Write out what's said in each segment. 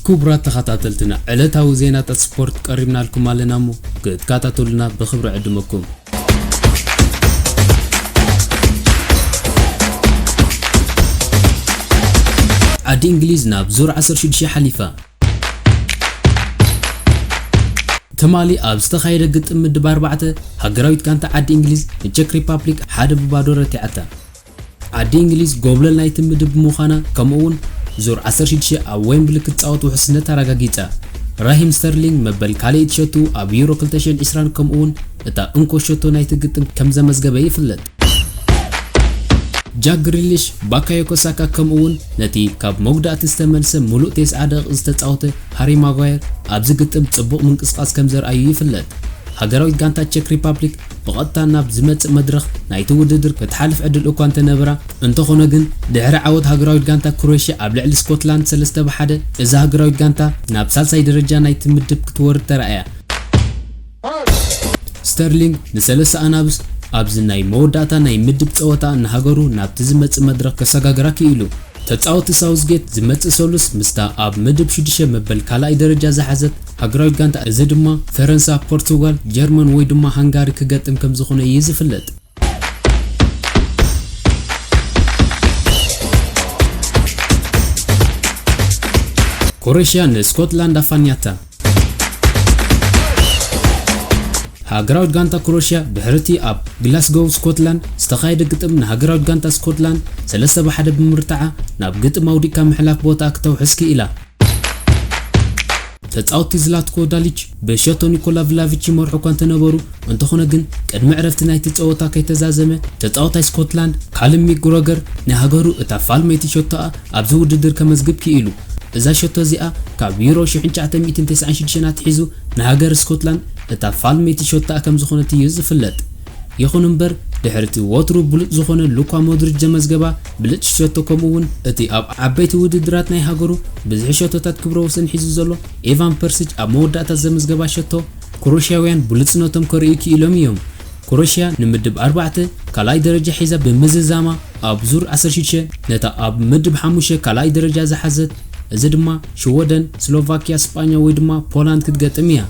ክቡራት ተኸታተልትና ዕለታዊ ዜናታት ስፖርት ቀሪብናልኩም ኣለና እሞ ክትከታተሉና ብኽብሪ ዕድመኩም ዓዲ እንግሊዝ ናብ ዙር ዓሰርተ ሽዱሽተ ሓሊፋ። ትማሊ ኣብ ዝተኻየደ ግጥም ምድብ ኣርባዕተ፣ ሃገራዊት ጋንታ ዓዲ እንግሊዝ ንቸክ ሪፓፕሊክ ሓደ ብባዶ ረቲዓታ። ኣዲ እንግሊዝ ጎብለል ናይቲ ምድብ ምዃና ከምኡ'ውን ዙር ዓሰርተ ሽዱሽተ ኣብ ዌምብሊ ክትጻወት ውሕስነት ኣረጋጊጻ። ራሂም ስተርሊንግ መበል ካልኣይቲ ሸቶኡ ኣብ ዩሮ ክልተ ሽሕን ዕስራን ከምኡ'ውን እታ እንኮ ሸቶ ናይቲ ግጥም ከም ዘመዝገበ ይፍለጥ። ጃክ ግሪሊሽ፣ ባካዮኮ ሳካ ከምኡ'ውን ነቲ ካብ መጉዳእቲ ዝተመልሰ ምሉእ ቴስዓ ደቒቕ ዝተጻወተ ሃሪ ማጓየር ኣብዚ ግጥም ጽቡቕ ምንቅስቓስ ከም ዘርኣዩ ይፍለጥ። ሃገራዊት ጋንታ ቸክ ሪፓብሊክ ብቐጥታ ናብ ዝመጽእ መድረኽ ናይቲ ውድድር ክትሓልፍ ዕድል እኳ እንተነበራ፣ እንተኾነ ግን ድሕሪ ዓወት ሃገራዊት ጋንታ ክሮኤሽያ ኣብ ልዕሊ ስኮትላንድ ሰለስተ ብ ሓደ፣ እዛ ሃገራዊት ጋንታ ናብ ሳልሳይ ደረጃ ናይቲ ምድብ ክትወርድ ተራእያ። ስተርሊንግ ንሰለሳ ኣናብስ ኣብዚ ናይ መወዳእታ ናይ ምድብ ጸወታ ንሃገሩ ናብቲ ዝመጽእ መድረኽ ከሰጋግራ ክኢሉ። ተጻወቲ ሳውዝጌት ዝመጽእ ሰሉስ ምስታ ኣብ ምድብ ሽዱሽተ መበል ካልኣይ ደረጃ ዝሓዘት ሃገራዊት ጋንታ እዚ ድማ ፈረንሳ፣ ፖርቱጋል፣ ጀርመን ወይ ድማ ሃንጋሪ ክገጥም ከምዝኾነ እዩ ዝፍለጥ። ክሮኤሽያ ንስኮትላንድ ኣፋንያታ። ሃገራዊት ጋንታ ክሮኤሽያ ድሕሪ'ቲ ኣብ ግላስጎው ስኮትላንድ ዝተኻየደ ግጥም ንሃገራዊት ጋንታ ስኮትላንድ ሰለስተ ብ ሓደ ብምርትዓ ናብ ግጥም ኣውዲቕካ ምሕላፍ ቦትኣ ክተውሕስ ክኢላ። ተጻወትቲ ዝላትኮ ዳሊች ብሸቶ ኒኮላ ቭላቪች ይመርሑ እኳ እንተነበሩ፣ እንተኾነ ግን ቅድሚ ዕረፍቲ ናይቲ ጸወታ ከይተዛዘመ፣ ተጻዋታይ ስኮትላንድ ካልም ሚክግሮገር ንሃገሩ እታ ፋልመይቲ ሸቶኣ ኣብዚ ውድድር ከመዝግብ ክኢሉ። እዛ ሸቶ እዚኣ ካብ ዩሮ ሽሕን ትሽዓተ ሚእትን ተስዓን ሽዱሽተን ኣትሒዙ ንሃገር ስኮትላንድ እታ ፋልመይቲ ሸቶኣ ከምዝኾነት እዩ ዝፍለጥ። ይኹን እምበር፣ ድሕሪ'ቲ ወትሩ ብሉጽ ዝኾነ ሉኳ ሞድሪች ዘመዝገባ ብልጽቲ ሸቶ ከምኡ'ውን እቲ ኣብ ዓበይቲ ውድድራት ናይ ሃገሩ ብዝሒ ሸቶታት ክብረ ወሰን ሒዙ ዘሎ ኤቫን ፐርሲች ኣብ መወዳእታ ዘመዝገባ ሸቶ፣ ክሮኤሽያውያን ብሉጽነቶም ከርእዩ ክኢሎም እዮም። ክሮኤሽያ ንምድብ ኣርባዕተ ካልኣይ ደረጃ ሒዛ ብምዝዛማ ኣብ ዙር ዓሰርተ ሽዱሽተ ነታ ኣብ ምድብ ሓሙሽተ ካልኣይ ደረጃ ዝሓዘት፣ እዚ ድማ ሽወደን፣ ስሎቫክያ፣ ስጳኛ ወይ ድማ ፖላንድ ክትገጥም እያ።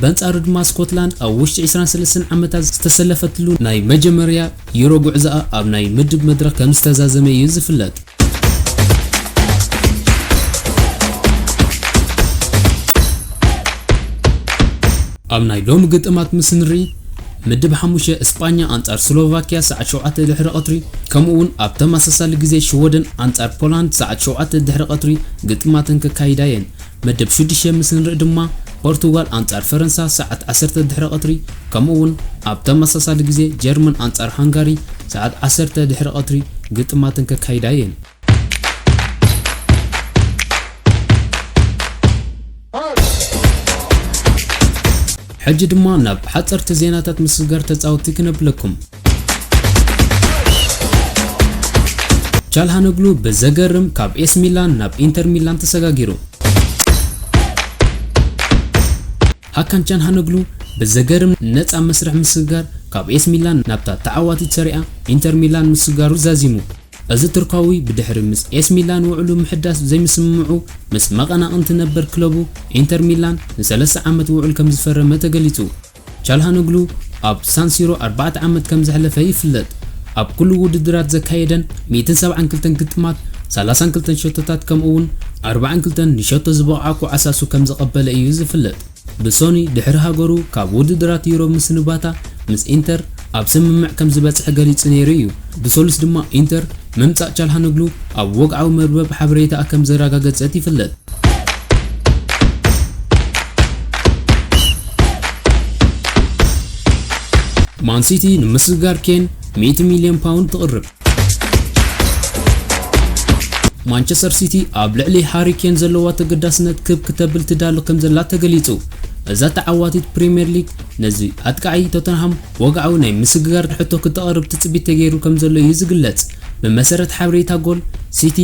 በንጻሩ ድማ ስኮትላንድ ኣብ ውሽጢ ዕስራን ሰለስተን ዓመታት ዝተሰለፈትሉ ናይ መጀመርያ ዩሮ ጉዕዞኣ ኣብ ናይ ምድብ መድረኽ ከምዝተዛዘመ እዩ ዝፍለጥ። ኣብ ናይ ሎሚ ግጥማት ምስ ንርኢ ምድብ ሓሙሽተ እስጳኛ ኣንጻር ስሎቫክያ ሰዓት ሸውዓተ ድሕሪ ቐትሪ ከምኡ'ውን ኣብ ተመሳሳሊ ግዜ ሽወደን ኣንጻር ፖላንድ ሰዓት ሸውዓተ ድሕሪ ቐትሪ ግጥማተን ከካይዳ እየን። መደብ ሽዱሽተ ምስ እንርኢ ድማ ፖርቱጋል ኣንጻር ፈረንሳ ሰዓት ዓሰርተ ድሕሪ ቐትሪ ከምኡ'ውን ኣብ ተመሳሳሊ ግዜ ጀርመን ኣንጻር ሃንጋሪ ሰዓት ዓሰርተ ድሕሪ ቐትሪ ግጥማተን ከካይዳ እየን። ሕጂ ድማ ናብ ሓጸርቲ ዜናታት ምስግጋር ተጻወትቲ ክነብለኩም። ቻልሃነግሉ ብዘገርም ካብ ኤስ ሚላን ናብ ኢንተር ሚላን ተሰጋጊሩ። ሃካን ቻልሃነግሉ ብዘገርም ነፃ መስርሕ ምስግጋር ካብ ኤስ ሚላን ናብታ ተዓዋቲት ሰሪኣ ኢንተር ሚላን ምስጋሩ ዛዚሙ። እዚ ቱርካዊ ብድሕሪ ምስ ኤስ ሚላን ውዕሉ ምሕዳስ ዘይምስምምዑ ምስ መቐናቕንቲ ነበር ክለቡ ኢንተር ሚላን ንሰለስተ ዓመት ውዕል ከምዝፈረመ ተገሊጹ። ቻልሃኖግሉ ኣብ ሳን ሲሮ ኣርባዕተ ዓመት ከም ዘሕለፈ ይፍለጥ። ኣብ ኩሉ ውድድራት ዘካየደን ሚእትን ሰብዓን ክልተን ግጥማት፣ ሰላሳን ክልተን ሸቶታት ከምኡ'ውን ኣርባዓን ክልተን ንሸቶ ዝበቕዓ ኳዓሳሱ ከም ዘቐበለ እዩ ዝፍለጥ። ብሶኑይ ድሕሪ ሃገሩ ካብ ውድድራት ዩሮ ምስንባታ ምስ ኢንተር ኣብ ስምምዕ ከም ዝበጽሐ ገሊጹ ነይሩ እዩ። ብሰሉስ ድማ ኢንተር ምምጻእ ቻልሃኖግሉ ኣብ ወግዓዊ መርበብ ሓበሬታኣ ከም ዘረጋገጸት ይፍለጥ። ማን ሲቲ ንምስግጋር ኬን ሚእቲ ሚልዮን ፓውንድ ትቕርብ። ማንቸስተር ሲቲ ኣብ ልዕሊ ሃሪ ኬን ዘለዋ ተገዳስነት ክብ ክተብል ትዳሎ ከም ዘላ ተገሊጹ። እዛ ተዓዋቲት ፕሪምየር ሊግ ነዚ ኣጥቃዒ ቶተንሃም ወግዓዊ ናይ ምስግጋር ሕቶ ክተቕርብ ትጽቢት ተገይሩ ከምዘሎ እዩ ዝግለጽ። ብመሰረት ሓበሬታ ጎል ሲቲ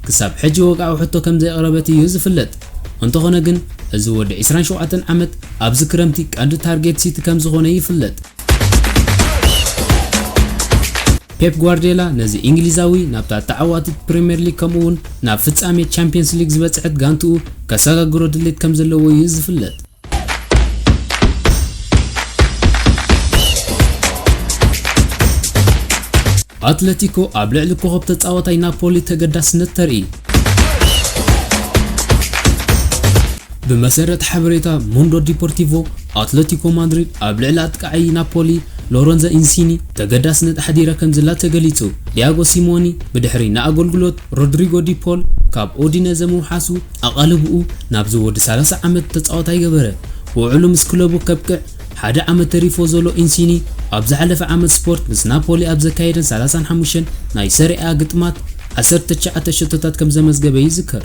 ክሳብ ሕጂ ወግዓዊ ሕቶ ከምዘየቕረበት እዩ ዝፍለጥ። እንተኾነ ግን እዚ ወዲ ዕስራን ሸውዓተን ዓመት ኣብዚ ክረምቲ ቀንዲ ታርጌት ሲቲ ከምዝኾነ ይፍለጥ። ፔፕ ጓርድዮላ ነዚ እንግሊዛዊ ናብታ ተዓዋቲት ፕሪምየር ሊግ ከምኡ'ውን ናብ ፍጻሜ ቻምፕየንስ ሊግ ዝበጽሐት ጋንትኡ ከሰጋግሮ ድሌት ከምዘለዎ እዩ ዝፍለጥ። ኣትለቲኮ ኣብ ልዕሊ ኮኸብ ተጻዋታይ ናፖሊ ተገዳስነት ተርኢ ብመሰረት ሓበሬታ ሞንዶ ዲፖርቲቮ ኣትለቲኮ ማድሪድ ኣብ ልዕሊ ኣጥቃዓይ ናፖሊ ሎረንዘ ኢንሲኒ ተገዳስነት ኣሕዲረ ከምዝላ ተገሊጹ ዲያጎ ሲሞኒ ብድሕሪ ንኣገልግሎት ሮድሪጎ ዲፖል ካብ ኦዲነዘ ምውሓሱ ኣቓልቦኡ ናብዚ ወዲ ሰላሳ ዓመት ተጻዋታይ ገበረ። ውዕሉ ምስ ክለቡ ከብቅዕ ሓደ ዓመት ተሪፎ ዘሎ ኢንሲኒ፣ ኣብ ዝሓለፈ ዓመት ስፖርት ምስ ናፖሊ ኣብ ዘካየደን ሰላሳን ሓሙሽተን ናይ ሰሪኣ-ኣ ግጥማት ዓሰርተ ትሽዓተ ሸቶታት ከም ዘመዝገበ ይዝከር።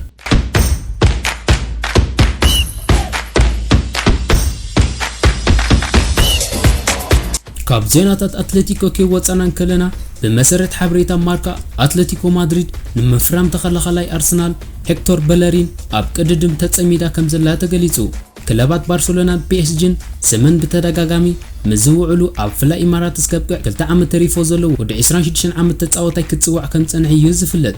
ካብ ዜናታት ኣትለቲኮ ከይወጻና እንከለና ብመሰረት ሓበሬታ ማርካ ኣትለቲኮ ማድሪድ ንምፍራም ተኸላኻላይ ኣርሰናል ሄክቶር በለሪን ኣብ ቅድድም ተጸሚዳ ከምዘላ ተገሊጹ። ክለባት ባርሰሎናን ፒኤስጂን ስመን ብተደጋጋሚ ምስ ዝውዕሉ ኣብ ፍላይ ኢማራትስ ከብቅዕ ክልተ ዓመት ተሪፎ ዘሎ ወዲ ዕስራን ሽዱሽተን ዓመት ተጻዋታይ ክጽዋዕ ከምዝጸንሐ'ዩ ዝፍለጥ።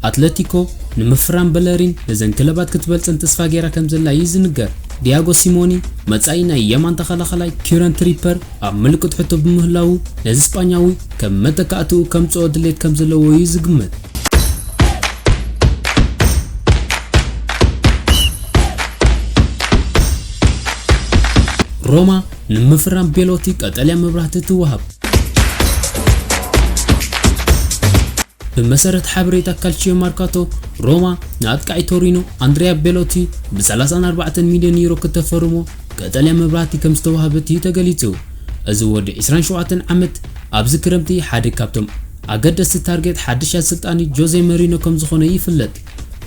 ኣትለቲኮ ንምፍራም በለሪን ነዘን ክለባት ክትበልጸን ተስፋ ገይራ ከምዘላ'ዩ ዝንገር። ዲያጎ ሲሞኒ መጻኢ ናይ የማን ተኸላኻላይ ኪረን ትሪፐር ኣብ ምልክት ሕቶ ብምህላዉ ነዚ ስጳኛዊ ከም መተካእትኡ ከምጽኦ ድሌት ከምዘለዎ'ዩ ዝግመት። ሮማ ንምፍራም ቤሎቲ ቀጠልያ መብራህቲ ትወሃብ። ብመሰረት ሓበሬታ ካልቺዮ ማርካቶ ሮማ ንኣጥቃዒ ቶሪኖ ኣንድሪያ ቤሎቲ ብ34 ሚልዮን ዩሮ ክተፈርሞ ቀጠልያ መብራህቲ ከም ዝተዋህበት እዩ ተገሊጹ። እዚ ወዲ 27 ዓመት ኣብዚ ክረምቲ ሓደ ካብቶም ኣገደስቲ ታርጌት ሓድሽ ኣሰልጣኒ ጆዜ መሪኖ ከምዝኾነ ይፍለጥ።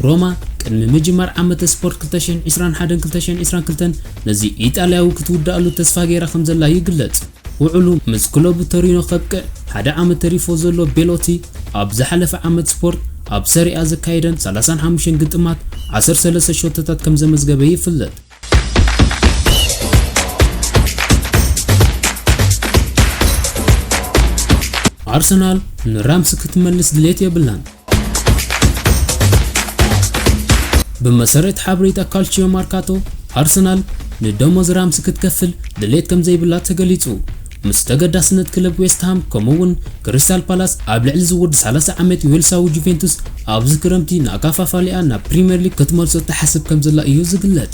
ሮማ ቅድሚ ምጅማር ዓመተ ስፖርት ክልተ ሽሕን ዕስራን ሓደን ክልተ ሽሕን ዕስራን ክልተን ነዚ ኢጣልያዊ ክትውድኣሉ ተስፋ ገይራ ከምዘላ ይግለጽ። ውዕሉ ምስ ክለቡ ቶሪኖ ከብቅዕ ሓደ ዓመት ተሪፎ ዘሎ ቤሎቲ፣ ኣብ ዝሓለፈ ዓመት ስፖርት ኣብ ሰሪኣ ዘካየደን ሰላሳን ሓሙሽተን ግጥማት ዓሰርተ ሰለስተ ሸቶታት ከምዘመዝገበ ይፍለጥ። ኣርሰናል ንራምስ ክትመልስ ድሌት የብላን። ብመሰረት ሓበሬታ ካልቺዮ ማርካቶ ኣርሰናል ንደሞዝ ራምስ ክትከፍል ድሌት ከም ዘይብላ ተገሊጹ። ምስ ተገዳስነት ክለብ ዌስትሃም ከምኡ'ውን ክሪስታል ፓላስ ኣብ ልዕሊ እዚ ወዲ ሰላሳ ዓመት ዌልሳዊ ጁቬንቱስ ኣብዚ ክረምቲ ንኣከፋፋሊኣ ናብ ፕሪምየር ሊግ ክትመልሶ ትሓስብ ከምዘላ እዩ ዝግለጽ።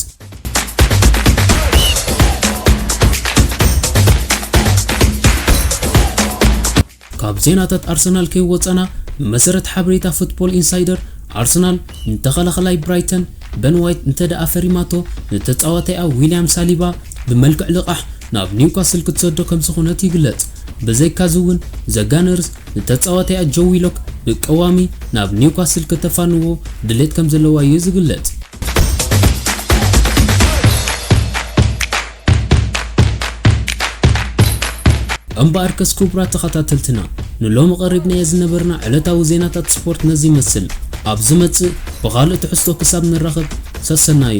ካብ ዜናታት ኣርሰናል ከይወጸና፣ ብመሰረት ሓበሬታ ፉትቦል ኢንሳይደር፣ ኣርሰናል ንተኸላኸላይ ብራይተን በን ዋይት እንተድኣ ፈሪማቶ፣ ንተጻዋታይኣ ዊልያም ሳሊባ ብመልክዕ ልቓሕ ናብ ኒውካስል ክትሰዶ ከምዝኾነት ይግለጽ። ብዘይካ'ዚ'ውን ዘጋነርስ ንተጻዋታይኣ ጆው ዊሎክ ብቀዋሚ ናብ ኒውካስል ከተፋንዎ ድሌት ከምዘለዋ'ዩ ዝግለጽ። እምበኣርከስ ክቡራት ተኸታተልትና ንሎሚ ቀሪብናዮ ዝነበርና ዕለታዊ ዜናታት ስፖርት ነዚ ይመስል። ኣብ ዝመጽእ ብኻልእ ትሕዝቶ ክሳብ ንራኸብ ሰሰናዩ።